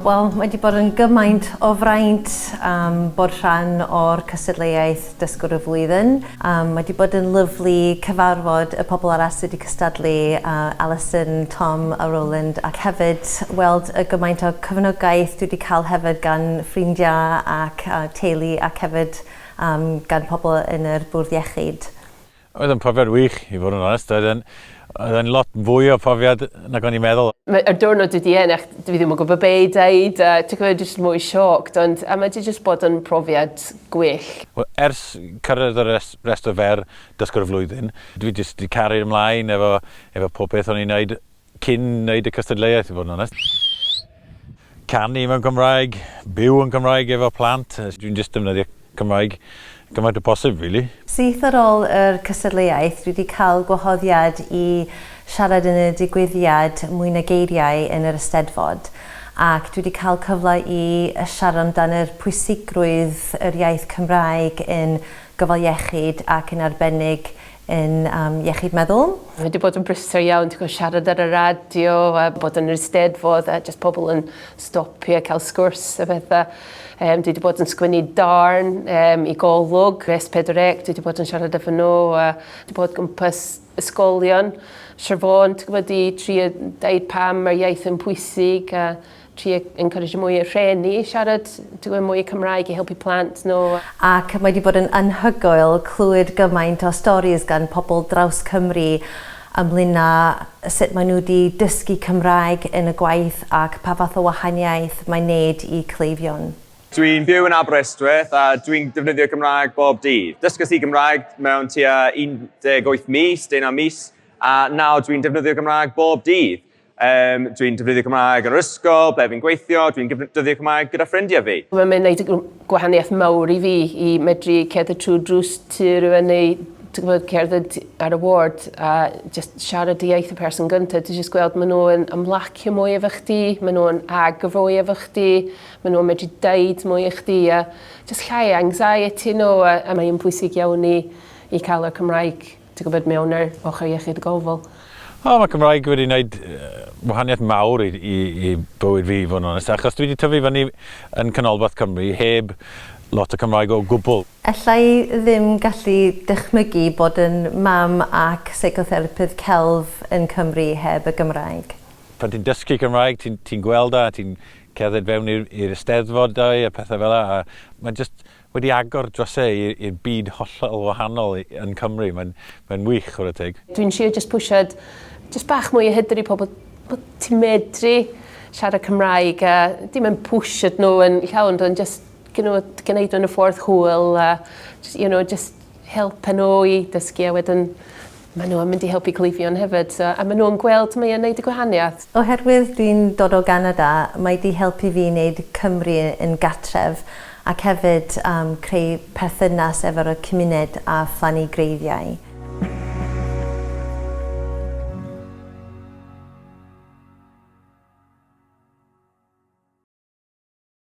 Wel, mae 'di bod yn gymaint o fraint am bod rhan o'r cystadleuaeth Dysgwr y Flwyddyn. Mae wedi bod yn lyfli cyfarfod y pobl arall sydd wedi cystadlu, Alison, Tom a Roland, ac hefyd weld y gymaint o cefnogaeth dwi wedi cael hefyd gan ffrindiau ac teulu ac hefyd gan pobl yn yr Bwrdd Iechyd. Oedd yn profiad wych, i fod yn onest. Oedd yn, oedd yn lot fwy o profiad nag o'n i'n meddwl. Mae y diwrnod wedi ennill, dwi ddim yn gwybod be i dweud, a ti'n gwybod, jyst mwy shocked, ond a mae wedi jyst bod yn profiad gwych. Wel, ers cyrraedd y res- restr fer dysgwr y flwyddyn, dwi jyst wedi caru'r ymlaen efo, efo pob peth o'n i'n wneud Cyn neud y cystadleuaeth i fod yn onest. Canu mewn Cymraeg, byw yn Cymraeg efo plant. Dwi'n jyst defnyddio Cymraeg gymaint â posib rili. Syth ar ôl yr cystadleuaeth, dwi 'di cael gwahoddiad i siarad yn y digwyddiad Mwy na Geiriau yn yr Eisteddfod ac dwi 'di cael cyfle i siarad amdan yr pwysigrwydd yr iaith Cymraeg yn gofal iechyd ac yn arbennig yn um, iechyd meddwl. Mae wedi bod yn brysau iawn, ti'n gwybod, siarad ar y radio a bod yn yr eisteddfod a jyst pobl yn stopio a cael sgwrs a bethau. Um, dwi wedi bod yn sgwynnu darn um, i golwg, res pedreg, dwi wedi bod yn siarad efo nhw a dwi wedi bod gwmpas ysgolion. Siarfon, ti'n gwybod, i tri dweud pam mae'r iaith yn pwysig a trio encourage mwy o rheni i siarad ti'n gwybod mwy Cymraeg i helpu plant nhw. Ac mae 'di bod yn anhygoel clywed gymaint o storis gan pobl draws Cymru ynglyn â sut maen nhw 'di dysgu Cymraeg yn y gwaith ac pa fath o wahaniaeth mae'n neud i cleifion. Dwi'n byw yn Aberystwyth a dwi'n defnyddio Cymraeg bob dydd. Dysges i Gymraeg mewn tua 18 mis, deunaw mis, a nawr dwi'n defnyddio Cymraeg bob dydd. Um, dwi'n defnyddio Cymraeg yn yr ysgol, ble fi'n gweithio, dwi'n defnyddio Cymraeg gyda ffrindiau fi. Mae'n mynd wneud gwahaniaeth mawr i fi i medru cerdded trwy drws tu rhywun neu gwybod, cerdded ar y ward a just siarad y iaith y person gyntaf. Dwi'n just gweld maen nhw'n ymlacio mwy efo chdi, maen nhw'n agofoi efo chdi, maen nhw'n medru deud mwy efo chdi a just llai anxiety nhw a, a mae'n bwysig iawn i, i cael y Cymraeg Ti'n gwybod, mewn ar ochr iechyd y gofal. O, mae Cymraeg wedi gwneud wahaniaeth mawr i, i, i bywyd fi, fod yn onest, achos dwi wedi tyfu fyny yn Canolbarth Cymru heb lot o Cymraeg o gwbl. Alla i ddim gallu dychmygu bod yn mam ac seicotherapydd celf yn Cymru heb y Gymraeg. Pan ti'n dysgu Cymraeg, ti'n ti gweld a ti'n cerdded fewn i'r Eisteddfodau a pethau fel yna, a mae'n just wedi agor dros e i'r byd hollol wahanol yn Cymru. Mae'n mae'n wych chwarae teg. Dwi'n trio jyst pwsio jyst bach mwy o hyder i pobl bod ti'n medru siarad Cymraeg a dim yn pwsio nhw yn llawn ond jyst you know gneud o yn y ffordd hwyl a jyst you know jyst helpu nhw i dysgu a wedyn maen nhw yn mynd i helpu cleifion hefyd so a maen nhw'n gweld mae o'n neud y gwahaniaeth. Oherwydd dwi'n dod o Ganada mae di helpu fi neud Cymru yn gatref ac hefyd am creu perthynas efo'r y cymuned a phlannu greiddiau.